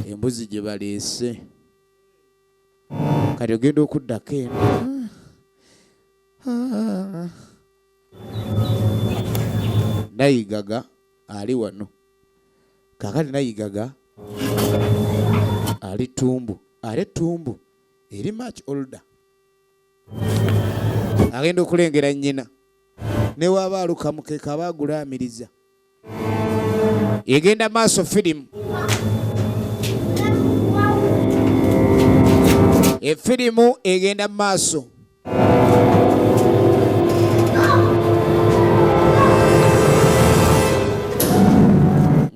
embuzi gye baleese kati ogenda okuddako eno nayigaga ali wano kakati nayigaga ali tumbu ali tumbu eri much older agenda okulengera nyina newaaba alukamukeka aba agulaamiriza egenda maaso firimu efirimu egenda mu maaso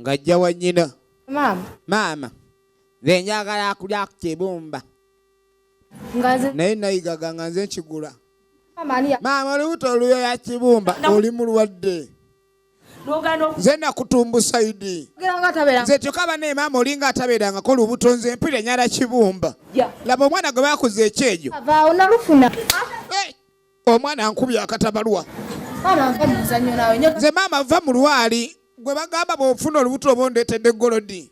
ng'ajja wa nnyina maama nze njagala akulya ku kibumba naye nayigaga nga nze nkigula maama olubuto oluyoya kibumba oli mulwadde nze nakutumbusa idi nze kyoka bana emaama olinga atabeerangako olubuto nze empira nyala kibumba laba omwana gwe bakuza ekyejo eh, omwana nkubya akatabalwa nze maama va mu lwali gwe bagamba bwofuna olubuto oba ondeetedde golodi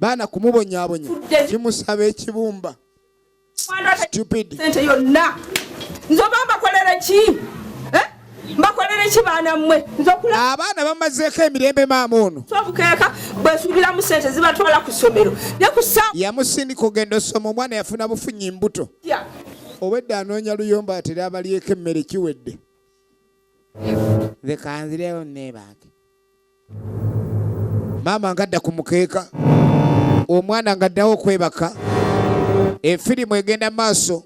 baana kumubonyabonya kimusaba ekibumba sente yonna nze oba mbakolere ki eh? mbakolere ki baana mmwe abaana bamazeeko emirembe maama ono sobukeeka bwesuubiramu sente zibatwala ku ssomero yamusindika ogenda osoma omwana yafuna bufunyi mbuto obwedde anoonya luyomba atera abalyeko emmere kiwedde bekanzirewo nebange maama ngadda ku mukeeka omwana ngaddawo okwebaka efirimu egenda mu maaso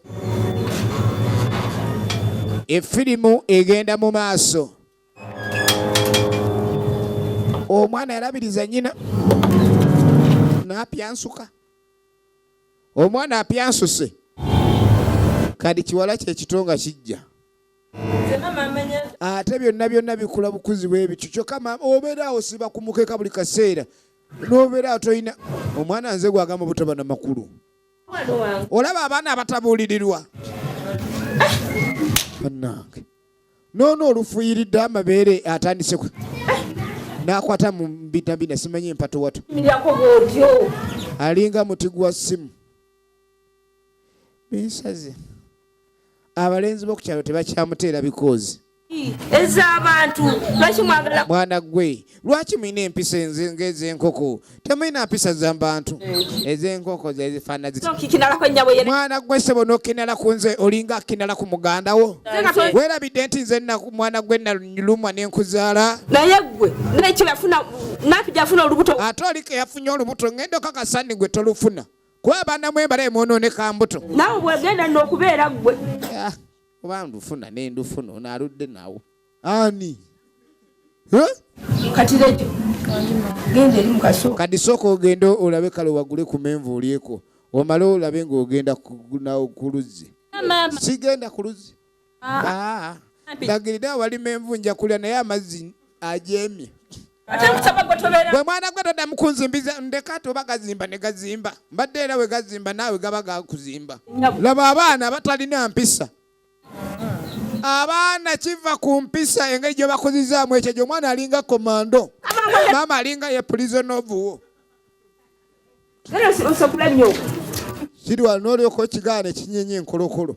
efirimu egenda mu maaso omwana yalabiriza nyina napyansuka omwana apyansuse kadi kiwala kyekitonga kijja ate byonna byonna bikula bukuzi bwebityo kyokka obeera awo siba kumukeka buli kaseera nobeera atolina omwana nze gwagamba obutaba na makulu olaba abaana abatabuulirirwa banange noono olufuyiridde amabeere atandise nakwata mu mbitabina simanyi empatowatu alinga muti gwa simu binsaze abalenzi bo kukyalo tebakyamuteera bikoozi ez'abantu lwaki mwagala mwana gwe lwaki mulina empisa ng'ez'enkoko temulina mpisa za bantu ez'enkoko zezifaana mwana gwe sebo n'okinala ku nze olinga akinala ku muganda wo weerabidde nti nze mwana gwe nalumwa n'enkuzaala naye gwe nekirafuna napi gyafuna olubuto ate oliko yafunye olubuto ng'enda okakasani gwe tolufuna kuba abaana mwe mbalaye mwonooneka mbuto naawe bwegenda nno okubeera ggwe ah, oba ndufuna ne ndufuna ono aludde nawo ani kati lejo genda eri mukasooka kati sooka ogende olabe kale wagule ku menvu olyeko omale olabe ng'ogenda ku luzzi sigenda ku luzzi Ah, ah. ndagiride awalima envu nja kulya naye amazzi ajeemye bwe mwana gwe toddamu kunzimbiza ndeka ati oba gazimba ne gazimba mbadde era we gazimba naawe gaba gakuzimba laba abaana abatalina mpisa abaana kiva ku mpisa engeri gye bakuzizaamu ekyo gyo omwana alinga komando maama alinga ye pulizona ovuwo kirwalina olyoka okigaana ekinyenye enkolokolo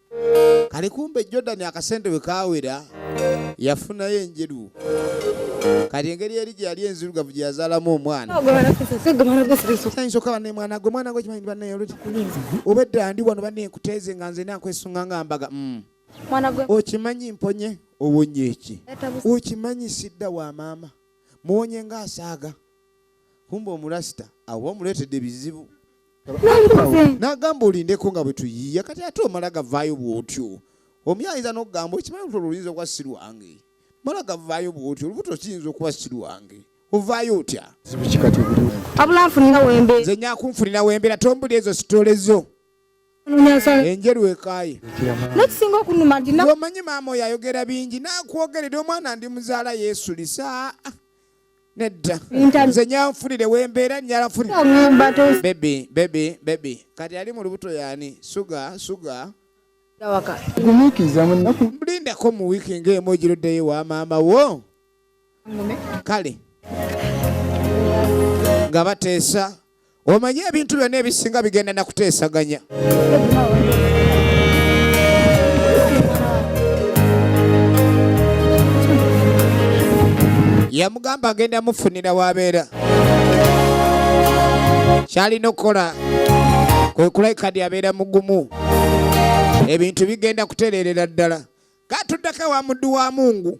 kali kumbe jordan akasente bwe kawera yafunayo enjeru kati engeri eri gye yali enzirugavu gye yazaalamu omwana nsooka banne mwana gwe mwana gwe kimanyi banne yoloti obedda ndi wano banne nkuteeze nga nze nakwesunga nga mbaga mm. okimanyi mponye owonye eki okimanyi sidda wa maama muwonye nga asaaga kumba omurasita awo omuleetedde bizibu nagamba olindeko nga bwetuyiya kati ate omala gavaayo bwotyo omi ayinza nokugamba okimanyi luto luyinza okuba si lwange mala gavaayo bwotyo olubuto kiyinza okuba si lwange ovaayo otya nze nyakunfunira wembeera tombuli ezo sitole zo enjeru ekaye nekisinga okunuma nti omanyi maama oyo ayogera bingi nakwogerera omwana ndi muzaala yesulisa nedda nze nyanfunire wembeera nyalafunirbebi bebi bebi kati ali mu lubuto yani suga suga lindako mu wiiki ngaemu ogiruddeyo wa maama wo kale nga bateesa Omanyi ebintu byonna ebisinga bigenda na kuteesaganya. Yamugamba agenda mufunira wabeera. Kyalina okukola kwe kulabika ndi abeera mugumu. Ebintu bigenda kutereerera ddala. Katuddako ewa muddu wa Mungu.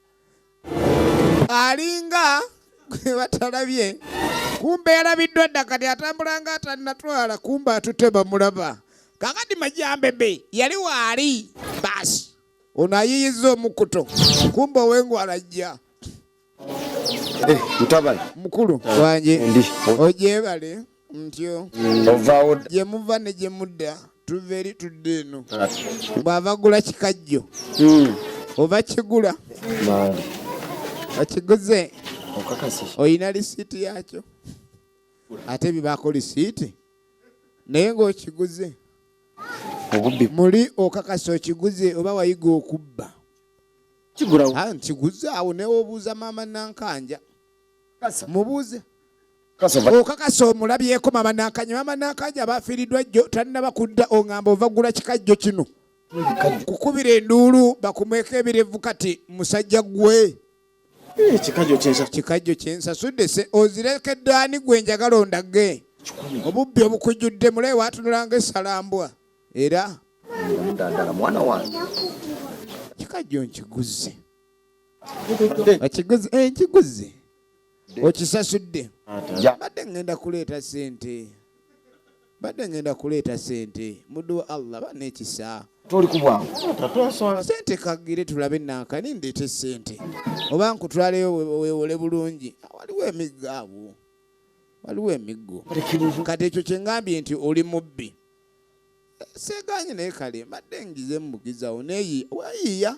alinga gwe batalabye kumbe yalabiddwa dda kati atambula nga atanatwala kumbe atute bamulaba kakati majambebe yali waali baasi ono ayiyiza omukuto kumbe owengwala jja eh, mukulu wange ojebale ntyo ovaawo gye muva ne gye mudda tuva eri tudde eno bw'abagula kikajjo hmm. oba kigula okiguze olina lisiiti yaakyo ate bibaako lisiiti naye ng'okiguze muli okakasa okiguze oba wayiga okubba nkiguze awo newobuuza maama nankanja mubuuze okakasa omulabyeko mama nakanya mama nakanya bafiiridwa jjo tannaba kudda ongamba ovagula kikajjo kino kukubira enduulu bakumweko ebirevu kati musajja gwe eh, kikajjo kyensasudde se ozirekedde ani gwe njagala ondage obubbi obukujjudde mulaye watunulanga esalambwa era kikajjo nkiguze ekiguzi eh, ekiguzi okisasudde badde ngenda kuleeta sente badde ngenda kuleeta sente muduwa allah banekisa toli kubwangu sente kagire tulabe nankani ndeete sente oba nkutwaleyo wewole bulungi waliwo emiggo awo waliwo emiggo kati ekyo kyengambye nti oli mubbi eh, seganye naye kale mbadde ngize mubugizawo neyi wayiya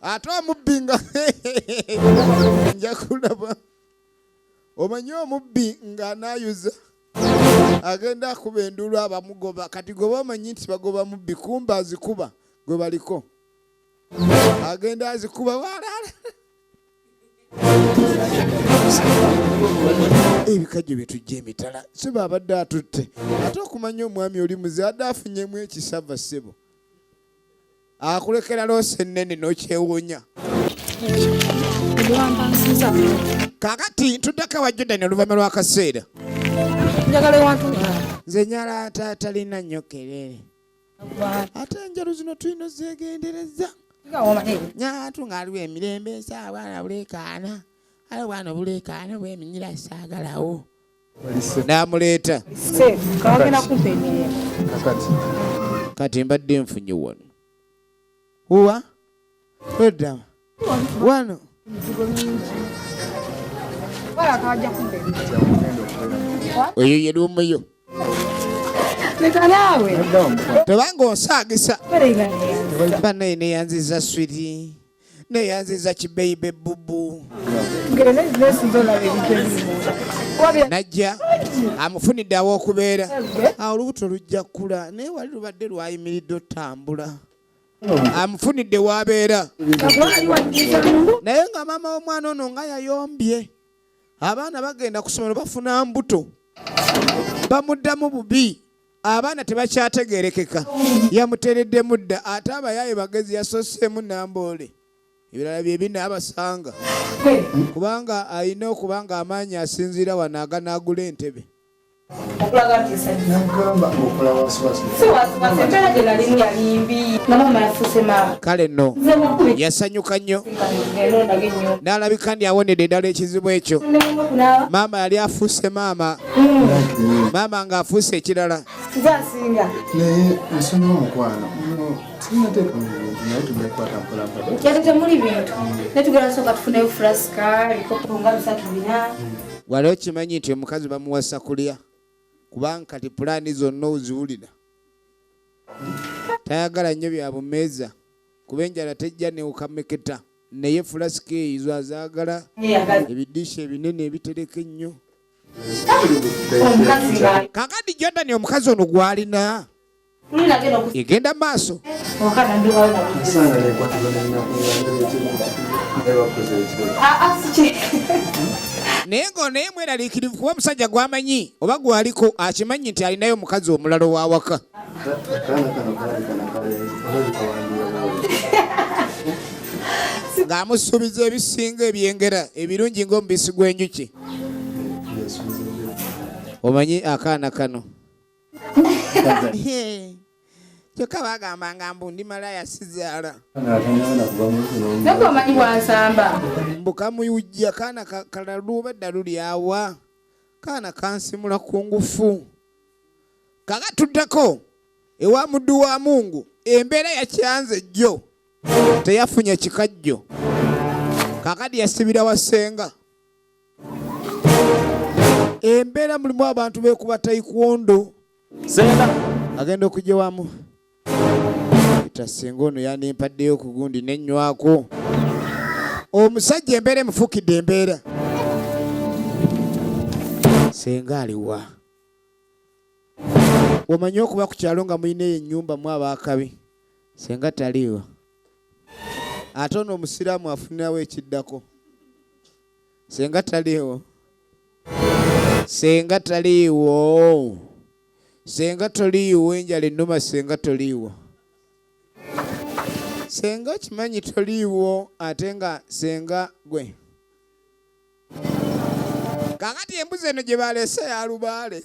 ate omubbi nga nja kulaba omanyi omubbi nga anayuza agenda akuba enduulu abamugoba kati goba omanyi nti bagoba mubbi kumba azikuba gwe baliko agenda azikuba walaala ebikajjo byetujja emitala siba abadde atutte ate okumanya omwami oli muze adde afunyemu ekisava ssebo akulekera loosi ennene n'okyewuunya kakati ntuddeko ewa judani oluvannyuma lw'akaseera nze nyala ate atalina nnyo kerere ate enjalo zino tulina ozegendereza nyatu ng'aliwo emirembe esaawa na buleekaana ale bwana obuleekaana bweminyira saagalawo n'amuleeta kati mbadde nfunye wano uwa edda wano oyo yali omuyo tebanga onsaagisa banaye neyanziza swiri neyanziza kibeibe bubu najja amufunidde awokubeera ah, olubuto lujja kula naye wali lubadde lwayimiridde otambula amufunidde wabeera naye nga maama womwana ono nga yayombye abaana bagenda ku somero bafuna mbuto bamuddamu bubi abaana tebakyategerekeka yamutereddemu dda ate abayaaye bagezi yasoseemu namboole ebirala byebina abasanga kubanga alina okuba nga amaanyi asinziira wano aganaagula entebe kale no yasanyuka nnyo n'alabika ndi awonedde ddala ekizibu ekyo maama yali afuuse maama maama nga afuuse ekirala kizasinga naye nsonyi omukwano sinateeka mu bintu naye tugenda kukwata mpolampola yali temuli bintu naye tugenda kusooka tufuneyo furasika ebikopo nga bisatu bina wali okimanyi nti omukazi bamuwasa kulya kubanga kati pulaani zonna oziwulira tayagala nnyo bya bumeeza kuba enjala tejja newukameketa naye fulasika eyizo azaagala ebidiisha ebinene ebitereka ennyo kakati jodani omukazi ono gwalina egenda maaso naye nga naye mweraliikirivu kuba omusajja gwamanyi oba gwaliko akimanyi nti alinayo omukazi omulala owawaka ng'amusuubiza ebisinga ebyengera ebirungi ng'omubisi gw'enjuki omanyi akaana kano kyokka bagamba nga mbu ndi malaya sizaala naye omanyi bwansamba mbu kamuyujja kaana kalalu obedda lulyawa kaana kansimula ku ngufu kakatuddeko ewa muddu wa mungu embeera yakyanze jjo teyafunye kikajjo kakadi yasibira wasenga embeera mulimu abantu bekuba taekwondo sena agenda okujja wamu peter singa ono yandimpaddeyo ku gundi nenywako omusajja embeera emufukidde embeera senga aliwa omanyi okuba ku kyalo nga mulina eyo ennyumba mu abaakabi senga taliiwa ate ono omusiraamu afunirawo ekiddako senga taliiwo senga taliiwo senga toliiwo enjala ennuma senga toliiwo senga okimanyi toliiwo ate nga senga gwe kakati embuzi eno gye balese yalubaale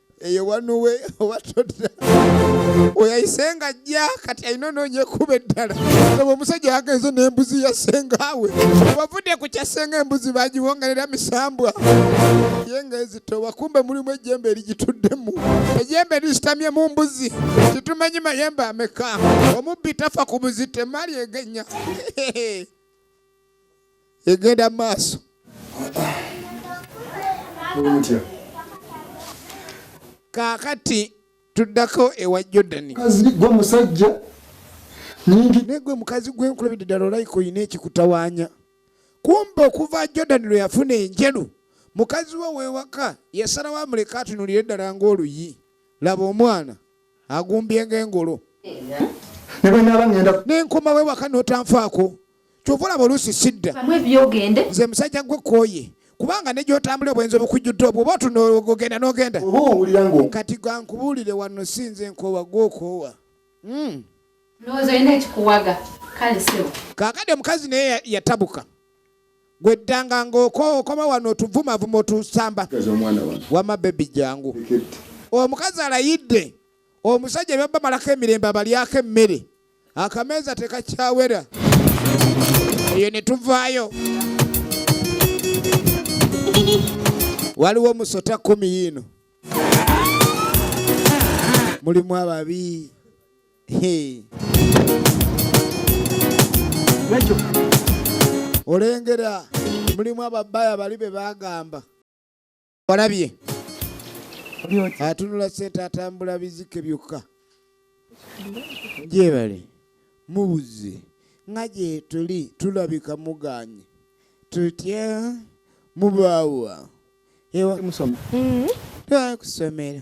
eyo wanuwe oba todda oyayise nga ajja kati alina onoonya ekkuba eddala oba omusajja yagenze n'embuzi ya sengaawe wavudde ku kya senga embuzi bagiwongerera misambwa ye nga ezito wakumbe mulimu ejjembe erigituddemu ejjembe erisitamye mu mbuzi titumanyi mayembe ameka omubbi tafa ku buzito emaali egenya egenda mu maaso kaakati tuddako ewa jordani gwe musajja naye gwe mukazi gwenkulabidde ddala olayika olina ekikutawaanya kumba okuva jordani lwe yafuna enjeru mukazi we wewaka yasalawo amuleka atunulire ddala ng'oluyi laba omwana agumbye ng'engolo ne bwe naaba ŋŋenda n'enkoma wewaka n'otanfaako kyova olaba oluusi sidda nze musajja gwe kooye kubanga ne gyotambula obwenzi obukujjudde obwo oba otunogenda nogenda kati gankubuulire wano sinze nkoowa gwokoowa hmm. kakade omukazi naye yatabuka gweddanga ngaokoma wano otuvumavuma otusamba wama bebi jangu omukazi alayidde omusajja byabba malako emirembe abalyako emmere akameeza tekakyawera eyo ne tuvaayo waliwo musota kumi yiino mulimu ababi olengera mulimu ababaya bali be bagamba Olabye? Atunula sente atambula bizike byokka. Gyebale mubuze nga gye tuli tulabika muganye tutya mubaawa ewa musoma mm-hmm. twakusomera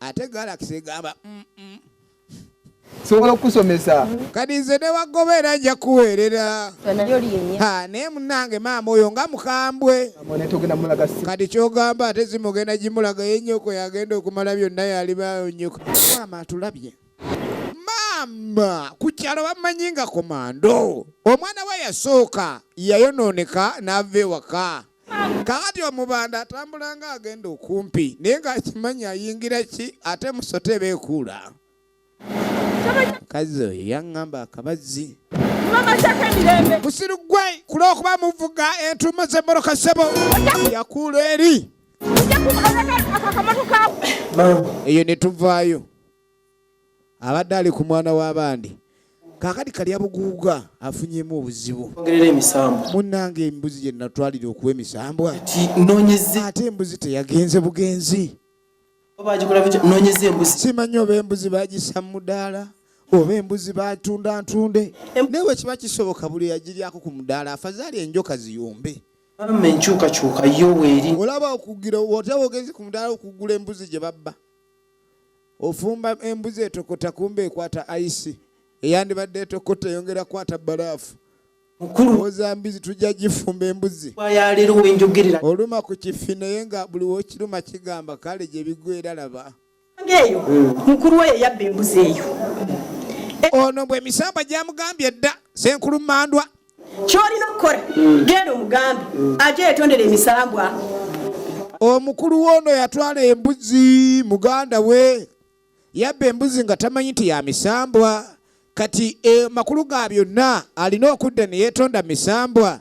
ate galaxy egamba mm sobola okukusomesa kati nze newagoba era nja kuweerera naye munange maama oyo nga mukambwe kati kyogamba ate zimugenda gimulaga ye nyoko yagenda okumala byonna yalibayo nyoko maama atulabye maama ku kyalo bamanyi nga komando omwana we yasooka yayonooneka n'ava ewaka kakati omubanda atambula nga agenda okumpi naye ng'akimanyi ayingira ki ate musota eba ekuula mukazi oyo yaŋŋamba akabazzi musiru gwe kulw'okuba muvuga entuumo z'emmoroka ssebo yakuula eri eyo ne tuvaayo abadde ali ku mwana w'abandi kakati kalya buguuga afunyemu obuzibu ogerera emisambwa munnange embuzi gye natwalira okuwa emisambwa nonyeze ate embuzi teyagenze bugenzi simanyi oba embuzi bagisa mu mudaala oba embuzi batunda ntunde naye wekiba kisoboka buli yagiryako ku mudaala afazaali enjoka ziyombe mama enkyukakyuka yo weeri olaba okugira otya wogenze ku mudaala okugula embuzi gye babba ofumba embuzi etokota kumba ekwata aisi eyandibadde etokota eyongera kwata balaafu mukuluozambizi tujja gifumba embuzi oluma ku kifi naye nga buli wokiruma kigamba kale gyebigwera laba eyo mukulu oyo yabba embuzi eyo ono bwemisambwa gyamugambye dda senkulumandwa kyolina okukola mm. genda omugambe mm. aje yetondera emisambwa omukulu woono yatwala embuzi muganda we yabba embuzi nga tamanyi nti ya misambwa kati e, makulu ga byonna alina okudda ne yeetonda misambwa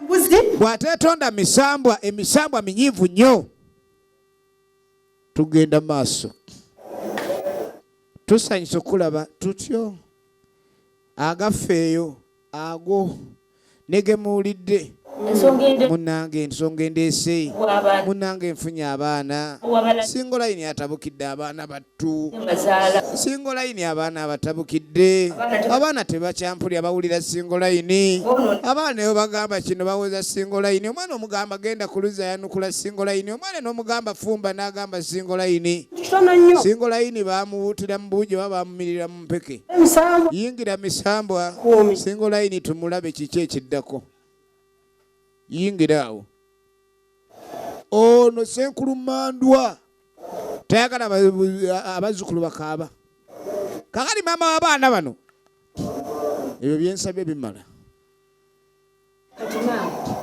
bw'ateetonda misambwa emisambwa minyiivu nnyo tugenda maaso tusanyusa okulaba tutyo agafeeyo ago negemuwulidde munange ensonga endeese munange nfunye abaana singa olayini atabukidde abaana battu singa olayini abaana abatabukidde abaana tebakyampulya bawulira singa olayini abaana eyo bagamba kino bawoza singa olayini omwana omugamba genda kuluza yanukula singa olayini omwana nomugamba fumba nagamba singa olayini singa olayini bamuwutira mubuujo babamumirira mpeke yingira misambwa singa olayini tumulabe kiki ekiddako yingira awo ono senkulu mandwa tayagala abazzukulu bakaaba kakali maama wabaana bano ebyo byensabye bimala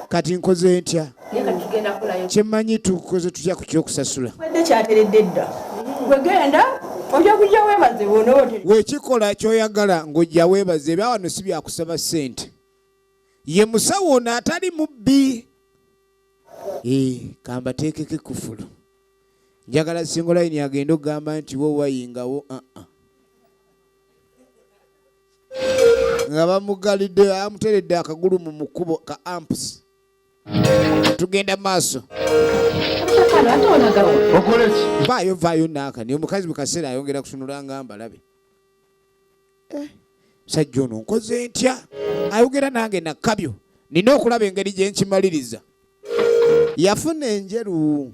kati nkoze ntya kyemmanyi tukoze tutya ku kyokusasula wekikola kyoyagala ng'ojja weebaze ebya wano si byakusaba ssente ye musawo ono atali mubbi kambateekeko ekufulu njagala singolayini agenda okugamba nti wowayingawo aa uh -uh. nga bamugalidde amuteredde akagulu mu mukubo ka ampusi tugenda maaso vaayo vaayo naaka naye omukazi mukaseera ayongera kusunula nga mbalabe eh, sajja ono nkoze ntya ayogera nange nakabyo nina okulaba engeri gye nkimaliriza yafuna enjeru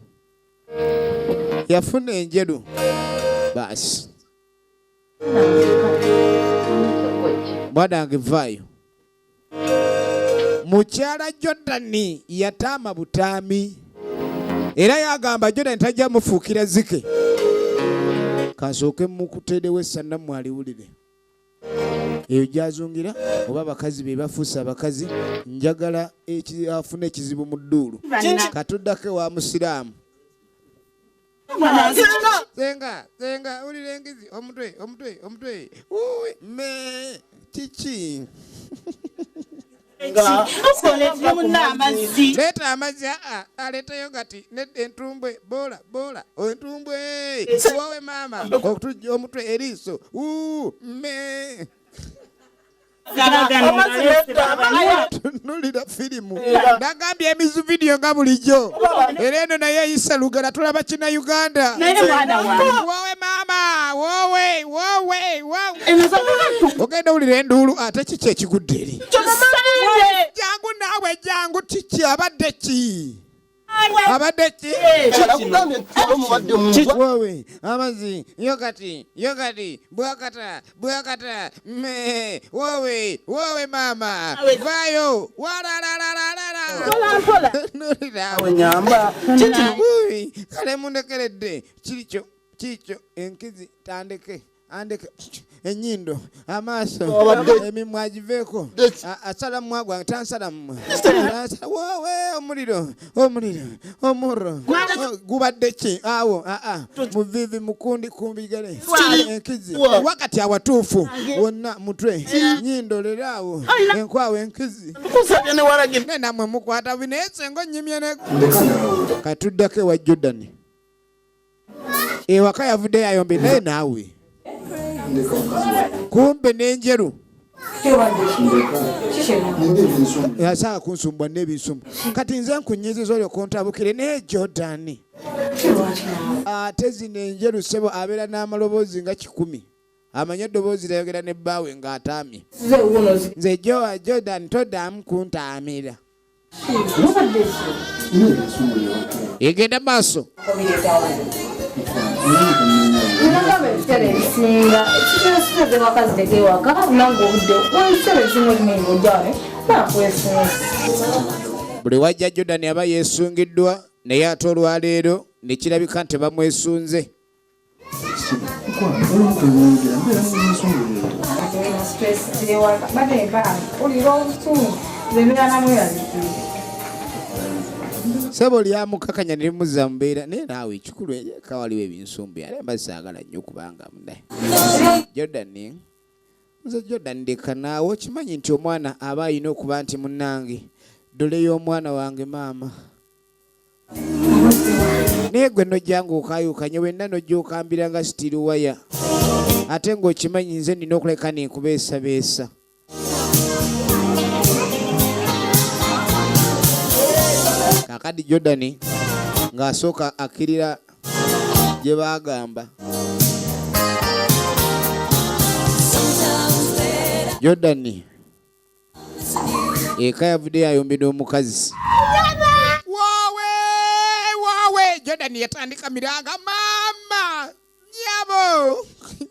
yafuna enjeru baasi mwana wange vaayo mukyala jordani yataama butaami era yagamba jordani tajja mufuukira zike kansooke mukuteerewo essanamu aliwulire eyo gyazungira oba abakazi be bafuuse abakazi njagala afuna ekizibu mu dduulu katuddako ewa musiraamu senga senga ulira engizi omutwe omutwe omutwe uwi me kiki leeta amazzi aa aleeteyo kati nedda entumbwe boola boola entumbwe wowe maama okutujja omutwe eriiso uu me tunulira firimu nagambye emizu vidiyo nga bulijjo era eno naye eyisa lugala tulaba kina uganda wowe maama wowe wowe ogenda wulira enduulu ate kiki ekigudde eri jangu naawe jangu kiki abadde ki abadde ki wowe amazi yogati yogati bwakata bwakata me wowe wowe mama vayo walalalalalalalawenyamba kale mundekeredde kikyo kikyo enkizi tandeke andeke enyindo amaaso emimwa agiveeko asala mumwa gwange tansala mumwa wowe omuliro omuliro omurro oh, gubadde ki awo aa muvivi mukundi kumbigale enkizi wakati awatuufu wonna mutwe nyindo lero awo enkwawo enkizi namwe mukwata binaye senga onyimye katudako ewa jordani ewaka yavuddeyo ayombe naye naawe kumbe n'enjeru yasanga kunsumbwa n'ebinsumbu kati nze nkunyiziza olyo kuntabukire naye jordani ate zino enjeru sebo abeera n'amaloboozi nga kikumi amanyi eddoboozi lyayogera ne bbaawe ng'ataamye nze jowa jordan todamu kuntaamira egenda maaso buli wajja jodani aba yesungiddwa naye ate olwaleero nekirabika nti bamwesunze sebo lyamukakanya nelimuza mubeera naye naawe ekikulu eka waliwo ebinsumbi ale mba saagala nnyo kubanga mune jordan nze jordan ndeka naawe okimanyi nti omwana aba alina okuba nti munange dole y'omwana wange maama naye gwe nojjanga okayukanye wenna nojja okambira nga sitiri waya ate ng'okimanyi nze nina okuleka nenkubeesabeesa kakadi jordan ng'asooka akkirira gye baagamba jordan eka yavudde yayombedwa omukazi wawe wawe jordan yatandika miranga mama nyabo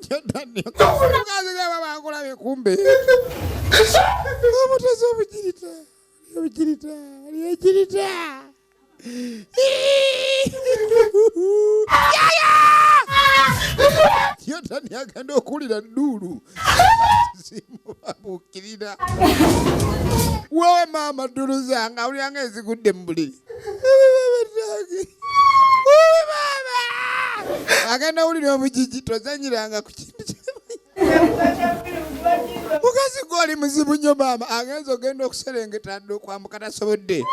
jordanbakulabye kumbe obutezi obugirita obugirita lyegirita yotani agenda okuwulira dduulu zimubabuukirira wewe maama ddulu zange awuliranga ezigudde mu buliri agenda wulira omujiji tozanyiranga ku kintu mukazi gwe oli muzibu nnyo maama agenza ogenda okuserengeta dda okwambuka tasobodde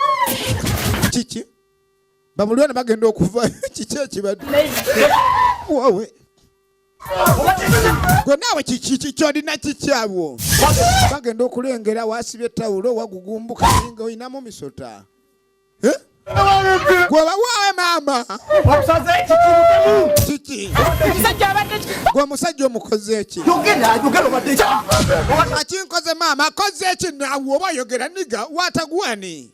kiki bamulwana bagenda okuva kiki ekibadde wowe gwe naawe kyolina kikyabwo bagenda okulengera wasibye tawulo wagugumbuka nga olinamu misota gwebawaawe maama kiki gwe omusajja omukoze eki akinkoze maama akoze eki nawe oba oyogera niga watagwani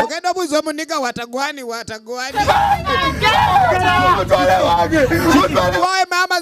ogenda obuuza omuniga watagwani watagwani wawe maama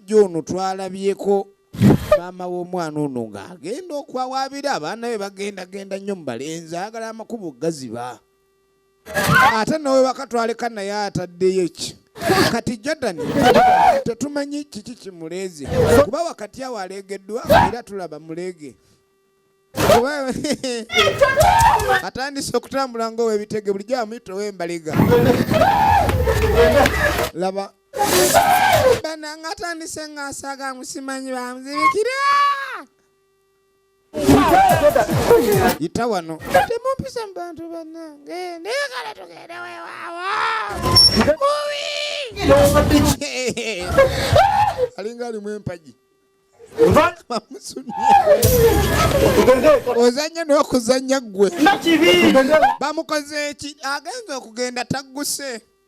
omusajja ono twalabyeko maama w'omwana ono ng'agenda okwawaabira abaana be bagendagenda nnyo mu balenzi ayagala amakubo gaziba ate nawe wakatwaleka naye ataddeyo ki kati jordan tetumanyi kiki kimuleeze kuba wakati awo aleegeddwa era tulaba muleege atandise okutambula ngaowebitege bulijjo amuyita owembaliga laba bananga atandise ng'asaaga musimanyi bamuzibikira yita wano temumpisa mu bantu banange naye kale tugende wewaawo alinga alimu empagi ozanye n'okuzanya ggwe bamukoze eki agenza okugenda tagguse